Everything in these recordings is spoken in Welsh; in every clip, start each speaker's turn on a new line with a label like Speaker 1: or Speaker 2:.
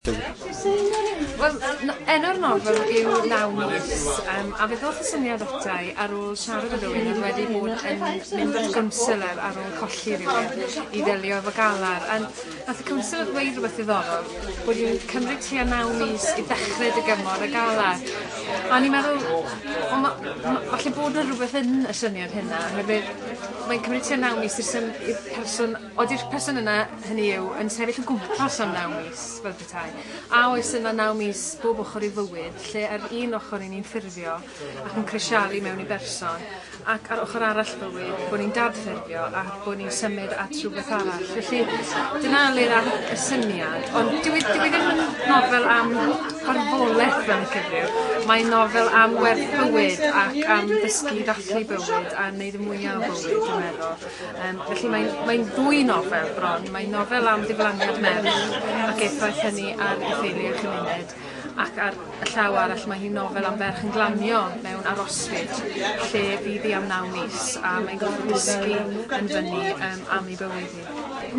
Speaker 1: Wel, enw'r nofel yw Naw Mis, um, a fe ddoth y syniad ata i ar ôl siarad â rhywun oedd wedi bod yn mynd i'r gwnsylor ar ôl colli rhywun i ddelio efo galar. A nath y cwnsylor ddweud rhywbeth ddiddorol, bod i'n cymryd tua naw mis i ddechrau dy gymor y galar. A o'n i'n meddwl, o, ma, ma, falle bod yna rhywbeth yn y syniad hynna, oherwydd mae'n cymryd tua naw mis i'r person Ydy'r person yna, hynny yw, yn sefyll o gwmpas am naw mis, fel petai? A oes yna naw mis bob ochr i fywyd, lle ar un ochr ry'n ni'n ffurfio ac yn crisialu mewn i berson, ac ar ochr arall bywyd, bod ni'n dad-ffurfio a bod ni'n symud at rywbeth arall? Felly, dyna le ddaeth y syniad. Ond dyw e, dyw e ddim yn nofel am farwolaeth fel yn cyfryw. Mae'n nofel am werth bywyd ac am ddysgu i ddathlu bywyd a wneud y mwyaf o bywyd, dwi'n meddwl. Um, felly mae'n mae ddwy nofel bron. Mae'n nofel am ddiflaniad merch ac effaith hynny ar ei theulu a chymuned ac ar y llaw arall mae hi'n nofel am ferch yn glanio mewn arosfyd lle bydd hi am naw mis a mae'n gorfod dysgu yn fyny um, am ei bywyd hi.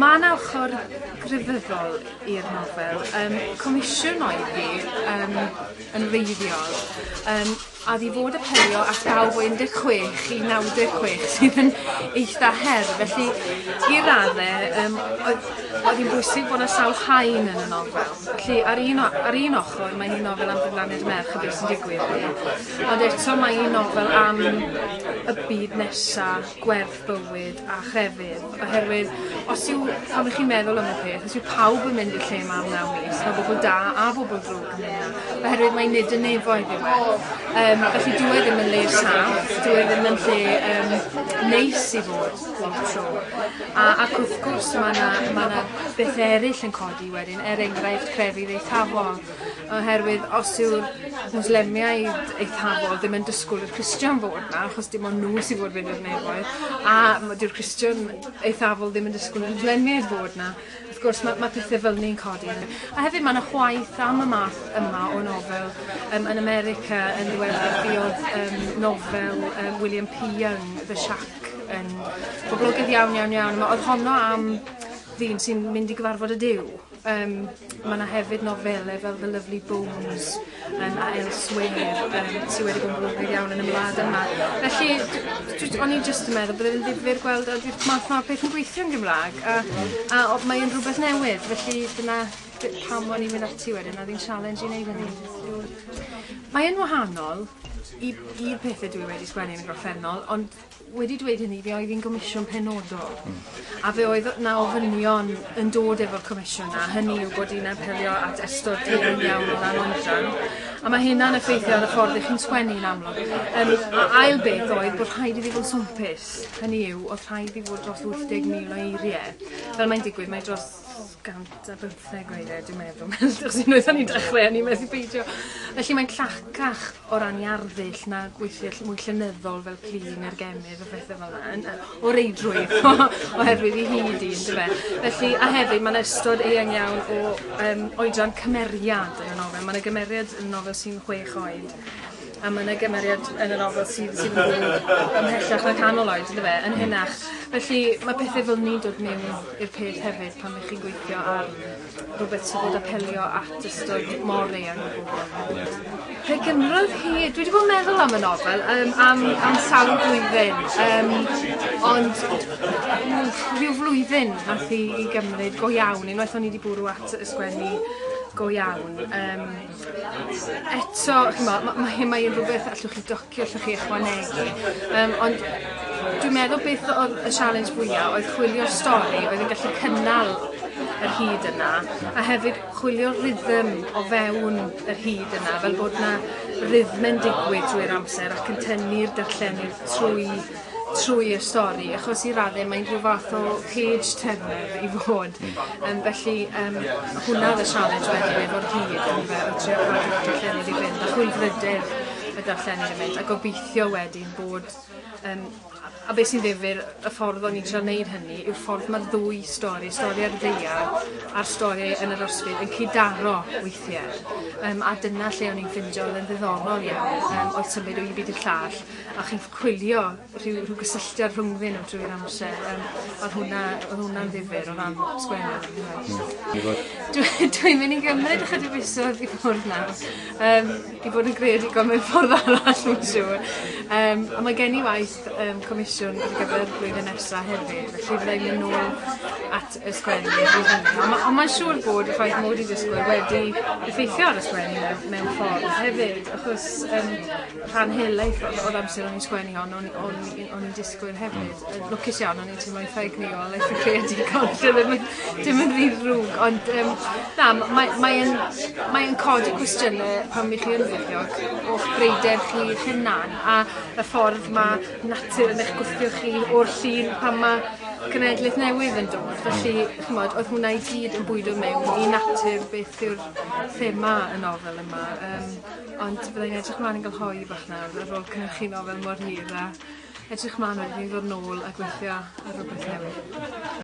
Speaker 1: Mae yna ochr grefyddol i'r nofel. Um, comisiwn oedd hi um, yn wreiddiol. Um, a fi fod apelio at bawb o 16 i 96 sydd yn eitha her felly i radde yym oedd oedd hi'n bwysig bod 'na sawl haen yn y nofel felly ar un o- ar un ochor mae hi'n nofel am gyflaniad merch a beth sy'n digwydd iddi ond eto mae hi'n nofel am y byd nesa, gwerth bywyd a chrefydd, oherwydd os yw, pan ych chi'n meddwl am y peth, os yw pawb yn mynd i'r lle yma am naw mis, mae bobl da a bobl drwg yn mynd oherwydd mae nid yn nefoedd yw e. Um, felly dwi e ddim yn le saff, dwi e ddim yn lle um, neis i fod lot tro. A, ac wrth gwrs mae yna ma bethau eraill yn codi wedyn, er enghraifft crefydd eithafol. Oherwydd os yw'r Mwslemiaid eithafol ddim yn dysgwyl i'r Cristion fod 'na, achos dim ond nhw sydd fod fynd i'r nefoedd, a ma' 'dyw'r Cristion eithafol ddim yn dysgwyl i'r Mwslemiaid fod 'na. Wrth gwrs ma' ma' pethe fel 'ny'n codi yn y... A hefyd ma' 'na chwaeth am y math yma o nofel yym yn America yn ddiweddar fuodd yym nofel yym William P Young The Shack yn boblogedd iawn iawn iawn a ma' o'dd honno am ddyn sy'n mynd i gyfarfod y Duw. Yym ma' 'na hefyd nofele fel The Lovely Bones yym a Elsewhere yym sy wedi bod yn brwdfrydig iawn yn y wlad yma. Felly d- dwi j- o'n i jyst yn meddwl bydde fe'n ddifyr gweld a dwi math 'ma o peth yn gweithio yn Gymra'g a a o- mae e'n rwbeth newydd felly dyna d- pam o'n i'n mynd ati wedyn o'dd 'i'n challenge i neud hynny. Mae yn wahanol i i'r pethe dwi wedi sgwennu yn y gorffennol ond wedi dweud hynny fe oedd hi'n gomisiwn penodol hmm. a fe oedd 'na ofynion yn dod efo'r comisiwn a hynny yw bod hi'n apelio at ystod digon iawn o dan oedran a mae hynna'n effeithio ar y ffordd ych chi'n sgwennu yn amlwg. Um, a ail beth oedd bod rhaid iddi fod yn swmpus, hynny yw oedd rhaid iddi fod dros 80,000 o eiriau. Fel mae'n digwydd mae dros 100 a bymtheg weithiau, dwi'n meddwl. Achos unwaith o'n i'n dechrau, o'n i'n methu peidio. Felly mae'n llacach o ran i arddull na gweithio ll- mwy llenyddol fel clean a'r gemydd a phethau fel yna. Yn- yy, O reidrwydd, oherwydd i hyd un, dy fe. Felly, a hefyd, mae'n ystod eang iawn o um, oedran cymeriad yn y nofel. Mae yna gymeriad yn y nofel sy'n chwech oed. A ma' 'na gymeriad yn y nofel sydd sydd yn byw ymhellach na canol oed on'd yfe? Yn henach. Felly ma' pethe fel 'ny'n dod mewn i'r peth hefyd pan 'ych chi'n gweithio ar rwbeth sy'n fod apelio at ystod mor eang o bobol. Ie. Pe gymrodd hi... Dwi 'di bod yn meddwl am y nofel yym am am sawl blwyddyn yym ond rhyw flwyddyn nath hi i gymryd go iawn unwaith o'n i 'di bwrw at y sgwennu go iawn yym eto, ch'mo', ma' ma' hyn mae yn rhywbeth allwch chi docio, allwch chi ychwanegu, yym ond dwi'n meddwl beth oedd y sialens fwya' oedd chwilio stori oedd yn gallu cynnal yr hyd yna, a hefyd chwilio rhythm o fewn yr hyd yna, fel bod 'na rythme'n digwydd drwy'r amser ac yn tynnu'r darllenydd trwy trwy'r stori achos i radde mae'n rhyw fath o page turner i fod yym felly yym hwnna oedd y sialens wedyn efo'r hud yndyfe o trio cadw'r darllenydd i fynd a chwilfrydedd y darllenydd i fynd a gobeithio wedyn bod yym a a be' sy'n ddifyr y ffordd o'n i'n trio neud hynny yw'r ffordd ma'r ddwy stori stori ar y ddaear a'r stori yn yr ysbryd yn cyd-daro weithie yym a dyna lle o'n i'n ffindio odd e'n ddiddorol iawn yym oedd symud o un byd i'r llall a chi'n chwilio rhyw rhyw gysylltiad rhwngddyn nhw trwy'r amser yym odd hwnna odd hwnna'n ddifyr o ran sgwennu on'd oedd? Hmm. Dwi fod... Dwi dwi'n mynd i gymryd ychydig fisoedd i ffwrdd nawr yym i bod yn greadigol mewn ffordd arall mae'n siŵr. Yym a mae gen i waith yym comisiwn ar gyfer y blwyddyn nesa hefyd felly fydda i'n mynd nôl at y sgwennu i hynny ond ma' ond mae'n siŵr bod y ffaith mod i 'di dysgwyl wedi effeithio ar y sgwennu mewn mewn ffordd hefyd achos yym rhan helaeth o'r, o'r amser o'n i'n sgwennu hon, o'n, o'n, o'n i'n disgwyl hefyd. Yn mm. lwcus iawn, o'n i'n teimlo'n ffeg ni o leith y creadigol, dim yn, dim yn rhy rhwg. Ond um, na, mae'n mae mae codi cwestiynau pan mi chi yn fyddiog o'ch breider chi hunan a y ffordd mae natur yn eich gwthio chi o'r llun pan mae cenedlaeth newydd yn dod. Felly, chymod, oedd hwnna i gyd yn bwydo mewn i natur beth yw'r thema y nofel yma. Um, Ond byddai'n edrych mlaen yn gael hoi bach nawr ar ôl cynhyrchuno fel mor hir a edrych mlaen wedyn i ddod nôl a gweithio ar rhywbeth newydd.